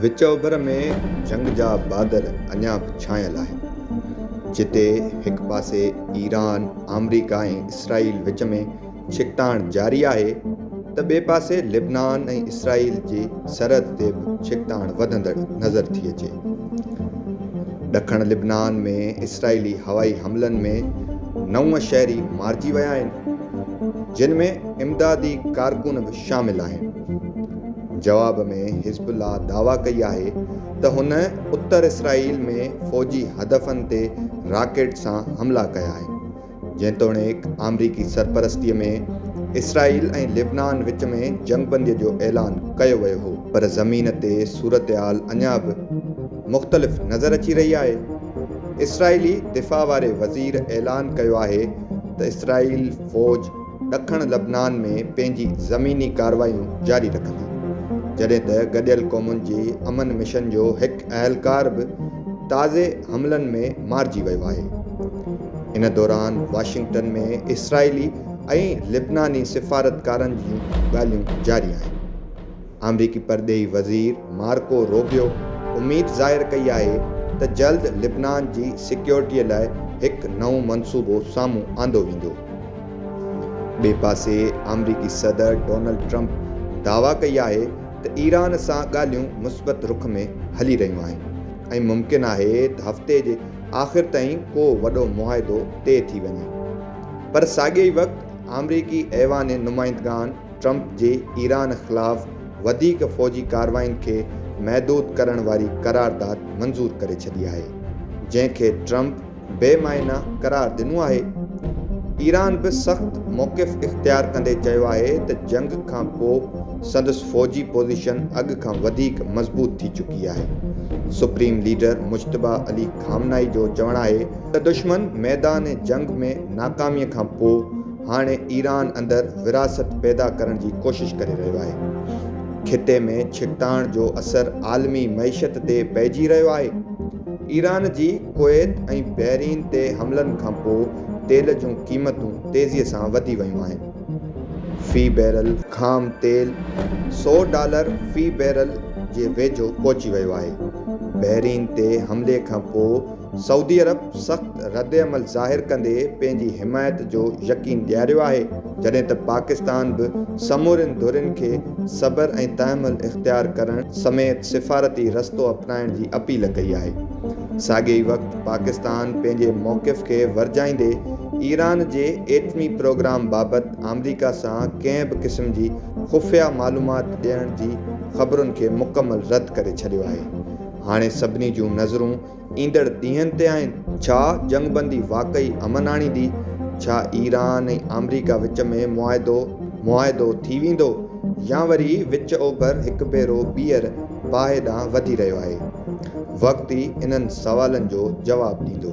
وچ اوڀر ۾ جنگ جا بادل اڃا به ڇانيل آهن، جتي هڪ پاسي ايران، آمريڪا ۽ اسرائيل وچ ۾ ڇڪتاڻ جاري آهي ته ٻئي پاسي لبنان ۽ اسرائيل جي سرحد تي به ڇڪتاڻ وڌندڙ نظر ٿي اچي. ڏکڻ لبنان ۾ اسرائيلي هوائي حملن ۾ نو شهري مارجي ويا آهن، جن ۾ امدادي ڪارڪن به شامل آهن. جواب ۾ حزب الله دعويٰ ڪئي آهي ته هن اتر اسرائيل ۾ فوجي هدفن تي راڪيٽ سان حملا ڪيا آهن. جيتوڻيڪ آمريڪي سرپرستي ۾ اسرائيل ۽ لبنان وچ ۾ جنگبندي جو اعلان ڪيو ويو هو، پر زمين تي صورتحال اڃا به مختلف نظر اچي رهي آهي، اسرائيلي دفاع واري وزير اعلان ڪيو آهي ته اسرائيل فوج ڏکڻ لبنان ۾ پنهنجي زميني ڪارروايون جاري رکندي، جڏهن ته گڏيل قومن جي امن مشن جو هڪ اهلڪار به تازي حملن ۾ مارجي ويو آهي. ان دوران واشنگٽن ۾ اسرائيلي ۽ لبناني سفارتڪارن جون ڳالهيون جاري آهن. آمريڪي پرڏيهي وزير مارڪو روبيو اميد ظاهر ڪئي آهي ته جلد لبنان جي سيڪيورٽي لاء هڪ نئون منصوبو سامهون آندو ويندو. ٻئي پاسي آمريڪي صدر ڊونلڊ ٽرمپ دعويٰ ڪئي آهي ته ايران سان ڳالهيون مثبت رخ ۾ هلي رهيون آهن ۽ ممڪن آهي ته هفتي جي آخر تائين ڪو وڏو معاهدو طئي ٿي وڃي پر ساڳئي وقت آمريڪي ايوان نمائندگان ٽرمپ جي ايران خلاف وڌيڪ فوجي ڪارروائين کي محدود ڪرڻ واري قرارداد منظور ڪري ڇڏي آهي، جنهن کي ٽرمپ بي معنيٰ قرار ڏنو آهي. ايران به سخت موقف اختيار ڪندي چيو آهي ته جنگ کان پوء سندس فوجي پوزيشن اڳ کان وڌيڪ مضبوط ٿي چڪي آهي. Supreme leader Mojtaba Ali Khamenei جو چوڻ آهي ته دشمن ميدان جنگ ۾ ناڪامي کان پوء هاڻي ايران اندر ورهاست پيدا ڪرڻ جي ڪوشش ڪري رهيو آهي. خطي ۾ ڇڪتاڻ جو اثر عالمي معيشت تي پئجي رهيو آهي. ايران جي ڪويت ۽ بحرين تي حملن کان پوء تيل جون قيمتون تيزي سان وڌي ويون آهن. في بيرل خام تيل سؤ ڊالر في بيرل جي ويجهو پهچي ويو آهي. بحرين تي حملي کان پوء سعودي عرب سخت ردعمل ظاهر ڪندي پنهنجي حمايت جو يقين ڏياريو آهي، جڏهن ته پاڪستان به سمورين ڌرين کي صبر ۽ تحمل اختيار ڪرڻ سميت سفارتي رستو اپنائڻ جي اپيل ڪئي آهي. ساڳئي ئي وقت پاڪستان پنهنجي موقف کي ورجائيندي ايران جي ايٽمي پروگرام بابت آمريڪا سان ڪنهن به قسم جي خفيه معلومات ڏيڻ جي خبرن کي مڪمل رد ڪري ڇڏيو آهي. هاڻي سڀني جون نظرون ايندڙ ڏينهن تي آهن، ڇا جنگبندي واقعي امن آڻيندي، ڇا ايران ۽ آمريڪا وچ ۾ معاهدو معاهدو ٿي ويندو يا وري وچ اوڀر هڪ ڀيرو ٻيهر باهه ڏانهن وڌي رهيو آهي، وقت ئي انهن سوالن جو جواب ڏيندو.